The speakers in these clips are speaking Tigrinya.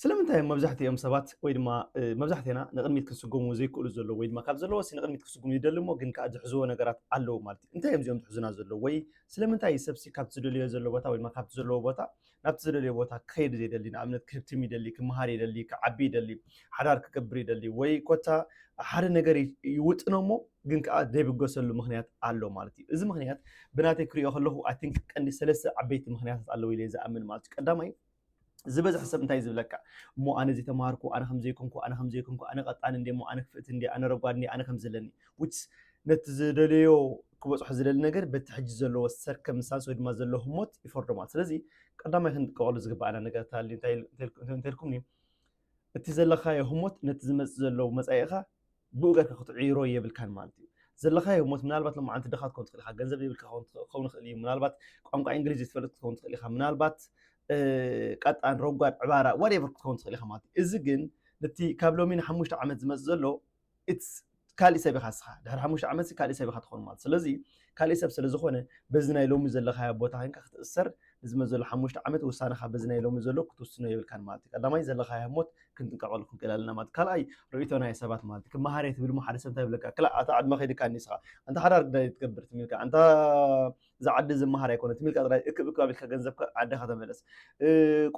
ስለምንታይ እዮም መብዛሕትኦም ሰባት ወይ ድማ መብዛሕትና ንቕድሚት ክስጎሙ ዘይክእሉ ዘለዉ ወይ ድማ ካብ ዘለዎ ሲ ንቕድሚት ክስጉሙ ይደሊ እሞ ግን ከዓ ዝሕዝዎ ነገራት ኣለዉ ማለት እዩ እንታይ እዮም እዚኦም ዝሕዙና ዘለዉ ወይ ስለምንታይ እዩ ሰብሲ ካብቲ ዝደልዮ ዘሎ ቦታ ወይ ድማ ካብቲ ዘለዎ ቦታ ናብቲ ዝደልዮ ቦታ ክኸይድ ዘይደሊ ንኣብነት ክህብትም ይደሊ ክምሃር ይደሊ ክዓቢ ይደሊ ሓዳር ክገብር ይደሊ ወይ ኮታ ሓደ ነገር ይውጥኖ እሞ ግን ከዓ ዘይብገሰሉ ምክንያት ኣሎ ማለት እዩ። እዚ ምክንያት ብናተይ ክሪኦ ከለኹ ኣይ ቲንክ ቀንዲ ሰለስተ ዓበይቲ ምክንያታት ኣለዉ ኢለ ዝኣምን ማለት እዩ። ቀዳማይ ዝበዝሕ ሰብ እንታይ ዝብለካ እሞ ኣነ ዘይተማሃርኩ ኣነ ከምዘይኮንኩ ኣነ ከምዘይኮንኩ ኣነ ቀጣን እንዲ እሞ ኣነ ክፍእቲ እንዲ ኣነ ረጓድ እንዲ ኣነ ከምዘለኒ ውስ ነቲ ዝደለዮ ክበፅሖ ዝደሊ ነገር በቲ ሕጂ ዘለዎ ሰርከምስታንስ ወይ ድማ ዘሎ ህሞት ይፈርዶ ማለት ስለዚ ቀዳማይ ክንጥቀቀሉ ዝግባኣና ነገር እንተልኩም እቲ ዘለካዮ ህሞት ነቲ ዝመጽእ ዘሎ መጻኢኻ ብኡ ጌርካ ክትዕይሮ የብልካን ማለት እዩ። ዘለካዮ ህሞት ምናልባት ሎማዓንቲ ድኻ ክትከውን ትኽእል ኢኻ፣ ገንዘብ የብልካ ክኸውን ይኽእል እዩ፣ ምናልባት ቋንቋ እንግሊዝ ዘይትፈልጥ ክትከውን ትኽእል ኢኻ፣ ምናልባት ቀጣን፣ ረጓድ፣ ዕባራ ዋትኤቨር ክትከውን ትኽእል ኢኻ ማለት እዩ። እዚ ግን ነቲ ካብ ሎሚ ንሓሙሽተ ዓመት ዝመጽእ ዘሎ it's ካልእ ሰብ ኢኻ እስኻ ድሕሪ ሓሙሽተ ዓመት ካልእ ሰብ ኢኻ ትኾን ማለት ስለዚ ካልእ ሰብ ስለ ዝኾነ በዚ ናይ ሎሚ ዘለኻዮ ቦታ ኮንካ ክትእሰር ንዝመፅ ዘሎ ሓሙሽተ ዓመት ውሳነኻ በዚ ናይ ሎሚ ዘሎ ክትውስኖ የብልካን ማለት እዩ ቀዳማይ ዘለኻዮ ሞት ክንጥንቀቐሉ ክንክእል ኣለና ማለት ካልኣይ ርእይቶ ናይ ሰባት ማለት ክመሃር እየ ትብል እሞ ሓደ ሰብ እንታይ ይብለካ ክላ ኣታ ዕድመ ከይድካ ንስኻ ኣንታ ሓዳር ግዳይ ትገብር ትሚልካ ኣንታ እዛ ዓዲ ዝመሃር ኣይኮነ ትሚልካ ጥራይ እክብ እክብ ኣቢልካ ገንዘብካ ዓድኻ ተመለስ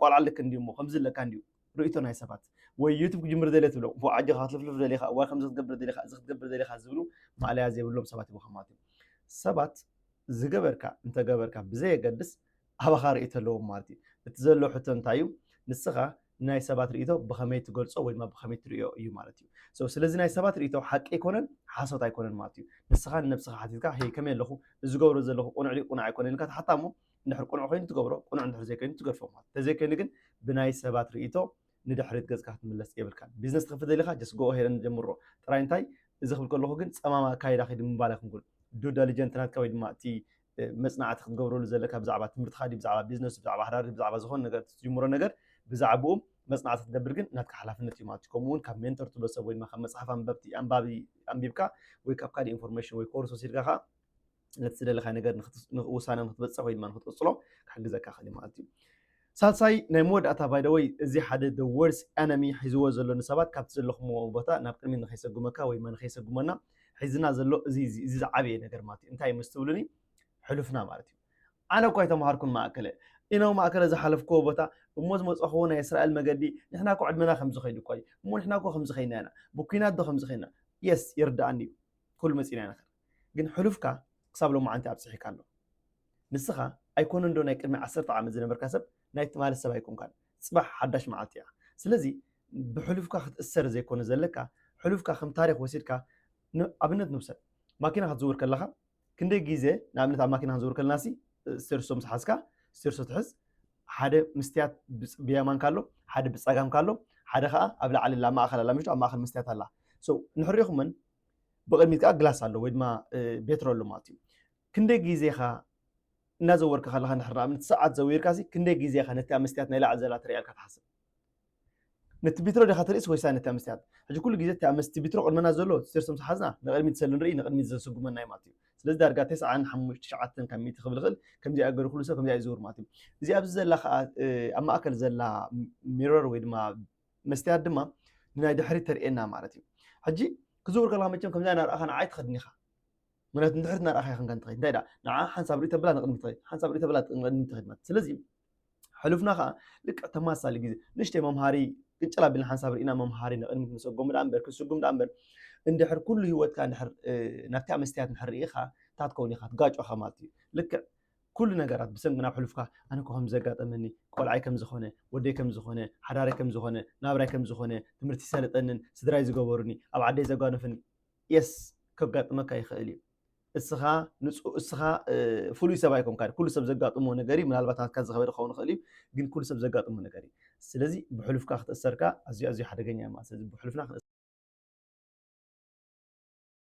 ቆልዓ ልክ እንዲዩ እሞ ከምዚ ኣለካ እንዲዩ ርእይቶ ናይ ሰባት ወይ ዩቱብ ክጅምር ደልየ ትብሎም ፎእ ኣጆኻ ክትልፍልፍ ደሊኻ እዋይ ከምዚ ክትገብር ደሊኻ እዚ ክትገብር ደሊኻ ዝብሉ ማእለያ ዘይብሎም ሰባት ይብሉ ማለት እዩ ሰባት ዝገበርካ እንተገበርካ ብዘየገድስ ኣባኻ ርእይቶ ኣለዎም ማለት እዩ እቲ ዘሎ ሕቶ እንታይ እዩ ንስኻ ናይ ሰባት ርእይቶ ብኸመይ ትገልጾ ወይ ድማ ብኸመይ ትርእዮ እዩ ማለት እዩ So፣ ስለዚ ናይ ሰባት ርእይቶ ሓቂ ኣይኮነን ሓሶት ኣይኮነን ማለት እዩ ንስኻ ንነብስኻ ሓቲትካ ሄይ ከመይ ኣለኹ እዚ ገብሮ ዘለኹ ቁኑዕ ድዩ ቁኑዕ ኣይኮነን ኢልካ ትሓታ እሞ እንድሕር ቅኑዕ ኮይኑ ትገብሮ ቅኑዕ እንድሕር ዘይኮይኑ ትገድፎ ማለት እንተዘይኮይኑ ግን ብናይ ሰባት ርእይቶ ንድሕሪት ገጽካ ክትምለስ የብልካን ቢዝነስ ትኸፍት ደሊኻ ጀስ ጎኦ ሄደን ጀምሮ ጥራይ እንታይ እዚ ክብል ከለኹ ግን ጸማም ኣካይዳ ኺድ ምባል ኣይኩንኩን ዱ ደሊጀንት ናትካ ወይ ድማ እቲ መጽናዕቲ ክትገብረሉ ዘለካ ብዛዕባ ትምህርትኻ ዲ ብዛዕባ ቢዝነስ ብዛዕባ ሃዳሪ ብዛዕባ ዝኾነ ነገር ትጅምሮ ነገር ብዛዕባኡ መጽናዕቲ ክትገብር ግን ናትካ ሓላፍነት እዩ ማለት እዩ ከምኡ እውን ካብ ሜንተር ትብሎ ሰብ ወይ ድማ ካብ መጽሓፍ ኣንበብቲ ኣንባቢ ኣንቢብካ ወይ ካብ ካልእ ኢንፎርሜሽን ወይ ኮርስ ወሲድካ ከዓ ነቲ ዝደለኻዮ ነገር ውሳነ ንክትበፅሕ ወይ ድማ ንክትቅፅሎ ክሕግዘካ ክእል ማለት እዩ ሳልሳይ ናይ መወዳእታ ባይደወይ እዚ ሓደ ደ ወርስ ኤነሚ ሒዝዎ ዘሎ ንሰባት ካብቲ ዘለኹምዎ ቦታ ናብ ቅድሚ ንከይሰጉመካ ወይ ድማ ንከይሰጉመና ሒዝና ዘሎ እዚ ዝዓበየ ነገር ማለት እዩ እንታይ ምስትብሉኒ ሕሉፍና ማለት እዩ ኣነ እኳ ኣይተምሃርኩን ማእከለ ኢነ ማእከለ ዝሓለፍክዎ ቦታ እሞ ዝመፅኹዎ ናይ እስራኤል መገዲ ንሕና እኮ ዕድመና ከምዚ ከይዱ እኳ እዩ እሞ ንሕና እኮ ከምዚ ከይና ኢና ብኩናት ዶ ከምዚ ከይና የስ ይርዳኣኒ እዩ ኩሉ መፂና ኢና ግን ሕሉፍካ ክሳብ ሎማዓንቲ ኣብጺሒካ ኣሎ ንስካ ኣይኮነን ዶ ናይ ቅድሚ ዓሰርተ ዓመት ዝነበርካ ሰብ ናይ ትማሊ ሰብ ኣይኮንካን ጽባሕ ሓዳሽ ማዓልቲ እያ ስለዚ ብሕሉፍካ ክትእሰር ዘይኮነ ዘለካ ሕሉፍካ ከም ታሪክ ወሲድካ ን ኣብነት ንውሰድ ማኪና ክትዝውር ከለካ ክንደይ ግዜ ንኣብነት ኣብ ማኪና ክንዝውር ከለና ሲ ስቴርሶ ምስ ሓዝካ ስቴርሶ ትሕዝ ሓደ ምስትያት ብየማንካ ኣሎ ሓደ ብጸጋምካ ኣሎ ሓደ ከኣ ኣብ ላዕሊ ኣላ ኣብ ማእከል ኣላ ምሽቱ ኣብ ማእከል ምስትያት ኣላ ንሕሪኩመን ብቕድሚት ከዓ ግላስ ኣሎ ወይ ድማ ቤትሮ ኣሎ ማለት እዩ ክንደይ ግዜ ኻ እናዘወርካ ከለካ ንድሕር ንኣብነት ሰዓት ዘዊርካ ሲ ክንደይ ግዜ ካ ነቲ መስትያት ናይ ላዕሊ ዘላ ትሪእያ ኢልካ ትሓስብ ነቲ ቢትሮ ዲካ ትርእስ ወይሳ ነቲ መስትያት ሕጂ ኩሉ ግዜ እቲ መስቲ ቢትሮ ቅድመና ዘሎ ሴርሶም ዝሓዝና ንቅድሚት ሰለ ንርኢ ንቅድሚት ዘስጉመና እዩ ማለት እዩ ስለዚ ዳርጋ ተስዓን ሓሙሽተ ትሽዓተን ካብ ሚእቲ ክብል ይኽእል ከምዚ ኣገሩ ኩሉ ሰብ ከምዚ ይዝውር ማለት እዩ እዚ ኣብዚ ዘላ ከዓ ኣብ ማእከል ዘላ ሚረር ወይ ድማ መስትያት ድማ ንናይ ድሕሪት ተርእየና ማለት እዩ ሕጂ ክዝውር ከለካ መቸም ከምዚ ናርኣኻ ንዓይ ትኸድን ኢኻ ምክንያቱ ንድሕሪት ናርኣኻ ይኸንካ እንትኸይድ እንታይ ዳ ንዓ ሓንሳብ ርእይ ተብላ ንቕድሚ ትኸይድ ሓንሳብ ርእይ ተብላ ንቕድሚ ትኸይድ ማለት ስለዚ ሕሉፍና ከዓ ልክዕ ተመሳሳሊ ግዜ ንእሽተይ መምሃሪ ቅጭል ኣቢልና ሓንሳብ ርኢና መምሃሪ ንቕድሚት ንሰጎሙ ዳኣ እምበር ክስጉም ዳኣ እምበር እንድሕር ኩሉ ሂወትካ ናብቲኣ መስትያት ንድሕር ርኢኻ እንታይ ትከውን ኢኻ ትጋጮኻ ማለት እዩ ልክዕ ኩሉ ነገራት ብሰንኪ ናብ ሕሉፍካ ኣነ እኮ ከምዚ ዘጋጠመኒ ቆልዓይ ከምዚ ኮነ ወደይ ከምዚ ኮነ ሓዳረይ ከምዚ ኮነ ናብራይ ከምዚ ኮነ ትምህርቲ ሰለጠንን ስድራይ ዝገበሩኒ ኣብ ዓደይ ዘጓነፉኒ yes ከጋጥመካ ይክእል እዩ እስኻ ንጹ እስኻ ፍሉይ ሰብ ኣይኮንካ ኩሉ ሰብ ዘጋጥሞ ነገር እዩ ምናልባት ናትካ ዝኸበደ ክኸውን ይኽእል እዩ ግን ኩሉ ሰብ ዘጋጥሞ ነገር እዩ ስለዚ ብሕሉፍካ ክትእሰርካ ኣዝዩ ኣዝዩ ሓደገኛ እዩ ማለት ስለዚ ብሕሉፍና